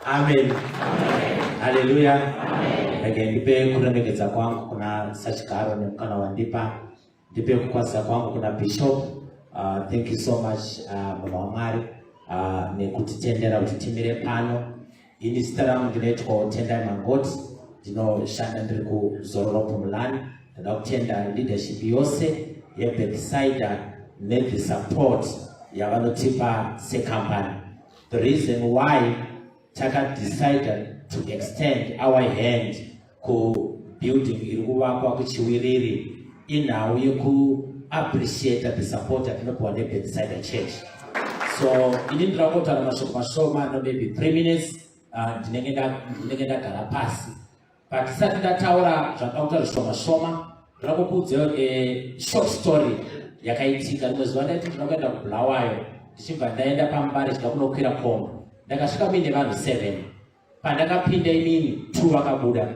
Amen. Haleluya. Again, ndipe kuremekedza kwangu kuna sachigaro nemukana wandipa ndipe kukwazisa kwangu kuna bishop uh, thank you so much uh, baba wamwari uh, nekutitendera kuti timire pano ini zita rangu ndinoitwa utendai mangoti ndinoshanda ndiri kuzororo pumulani ndoda kutenda leadership yose yebeckside nethe support yavanotipa secompany The reason why taka decided to extend our hand ku building iri kuvakwa kuchiwiriri inhau yeku appreciate the support atinopiwa nebedside church so ini ndirakotaura mashoko mashoma no maybe three minutes uh, ndinenge ndagara pasi Patisati ndataura zvakauta zvishoma shoma, ndoda kukuudzawo a eh, short story yakaitika. Rimwe zuva ndaiti ndinoda kuenda kuBulawayo ndichibva ndaenda pamba richida kunokwira komba. Ndakasvika muine vanhu seven. Pandakapinda imini two vakabuda.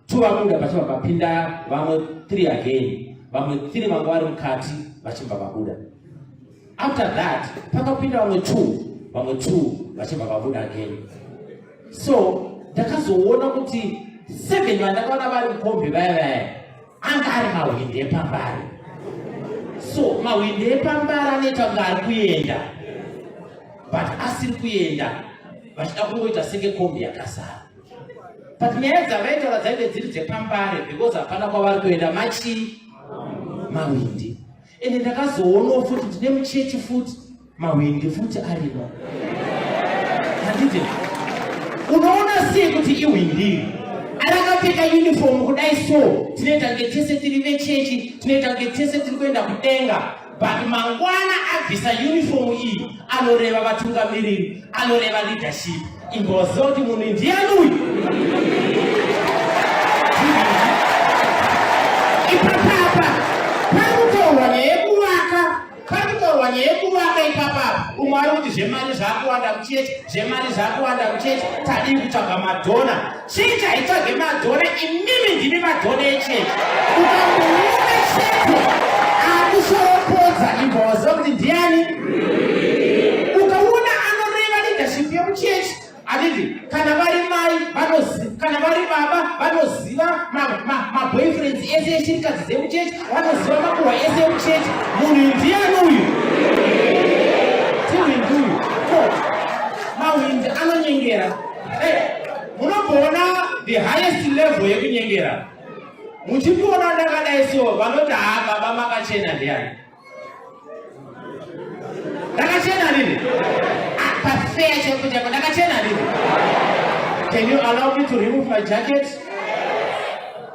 Two vabuda pachibva papinda vamwe three again. Vamwe three vanga vari mukati vachibva vabuda. after that pakapinda vamwe two vamwe two vachibva vabuda again so ndakazoona kuti seven vandakaona vari mukombi vaya vaya anga ari mahwindi epambari so mahwindi epambari anoita kunge ari kuenda but asiri kuenda vachida kungoita senge kombi yakasara but nyaya dzavaitaura dzaive dziri dzepambare because hapana kwavari kuenda machi mawindi ende ndakazoonawo futi ndine muchechi futi mahwindi futi arimo handiti unoona sei kuti ihwindiri arakapfeka uniform kudai so tinoita kunge tese tiri vechechi tinoita kunge tese tiri kuenda kudenga but mangwana abvisa uniform iyi anoreva vatungamiriri anoreva leadership Imbovaziva kuti munhu ndiani uyu. Ipapapa pari kutaurwa nyaya yekuvaka, pari kutaurwa nyaya yekuvaka ipapapa. Umwe ari kuti zvemari zvakuwanda kuchechi, zvemari zvakuwanda kuchechi, tadii kutsvaga madhona. Chechi haitsvage madhona, imimi ndimi madhona echechi. Ukamboona chechi akushoropodza ibva waziva kuti ndiani. Ukaona anoreva leadership yemuchechi handiti kana vari mai kana vari baba vanoziva maboyfriends ese eshirikadzi dzemuchechi vanoziva makuhwa ese emuchechi munhu ndiani uyu tiwindi uyu mawindi anonyengera munomboona the highest level yekunyengera muchimboona ndakadai so vanoti haa baba makachena ndiyani ndakachena rini ah, pafeya cheko cheko ndakachena rini can you allow me to remove my jacket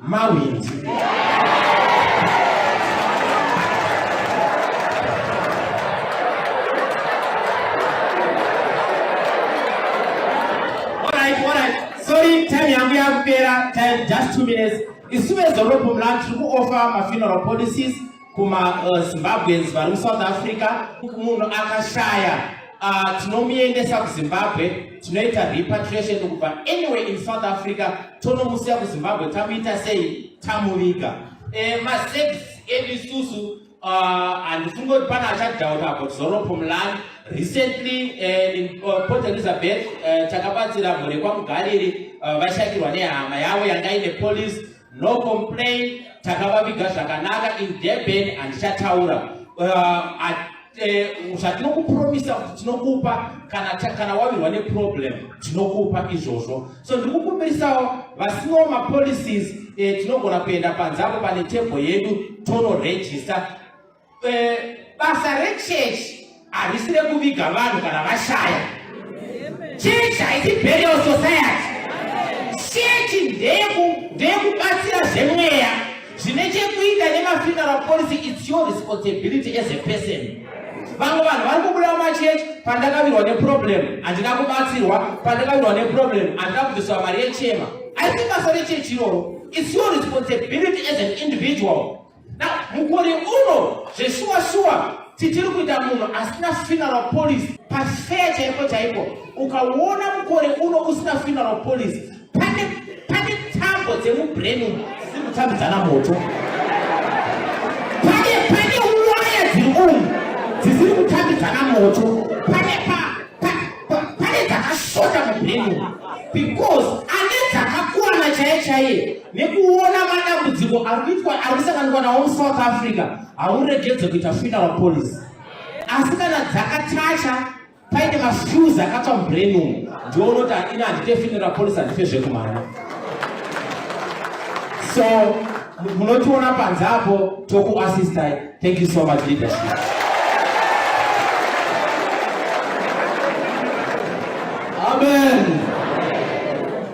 Mawindi. Sorry, time yangu yakupera, time just two minutes. Isuve zoropo mlandu tiri kuofa mafuneral policies kuma uh, zimbabweans vari musouth africa munhu akashaya uh, tinomuendesa kuzimbabwe tinoita repatriation kubva anyway in south africa tonomusiya kuzimbabwe tamuita sei tamuviga e, masex edu isusu uh, handifunge kuti pane achadhauta about zoropo mulani recently uh, in uh, port elizabeth uh, takabatsira mhuri kwamugariri uh, vashakirwa nehama yavo yanga ine police No complain, takavaviga zvakanaka in Durban handichataura. Uh, at, uh, zvatinokupromisa kuti tinokupa kana, kana wavirwa neproblem tinokupa izvozvo. So ndiri kukumbirisawo vasino mapolicies eh, tinogona kuenda panze apo pane table yedu tonoregister Eh, basa rechechi harisi rekuviga vanhu kana vashaya chechi haisi burial society chechi ndeyekubatsira zvemweya zvine chekuita nemafuneral policy its your responsibility as a person vamwe vanhu vari kubuda mumachechi pandakavirwa neproblem handina kubatsirwa pandakavirwa neproblem handina kubviswa mari yechema haisi basa rechechi iroro its your responsibility as an individual Na mukore uno zveshuwa shuwa tichiri kuita munhu asina funeral policy pafeya chaipo chaipo. Ukaona mukore uno usina funeral policy pane pane tambo dzemubrain umu dziri kutambidzana moto. Pane pane waya dziri umu dzisiri kutambidzana moto. Pane pa pa pa pane dzakashota mubrain umu because ane dzakakwana chaiye chaiye. nekuona madambudziko ari kuitwa ari kusanganikwa nawo musouth africa hauregedze kuita funeral policy asi kana dzakachacha paine mafuse akatsva mubrain umu ndiounoti ini handite funeral policy handife zvekumhanya so munotiona panze apo tokuassistai thank you so much leadership amen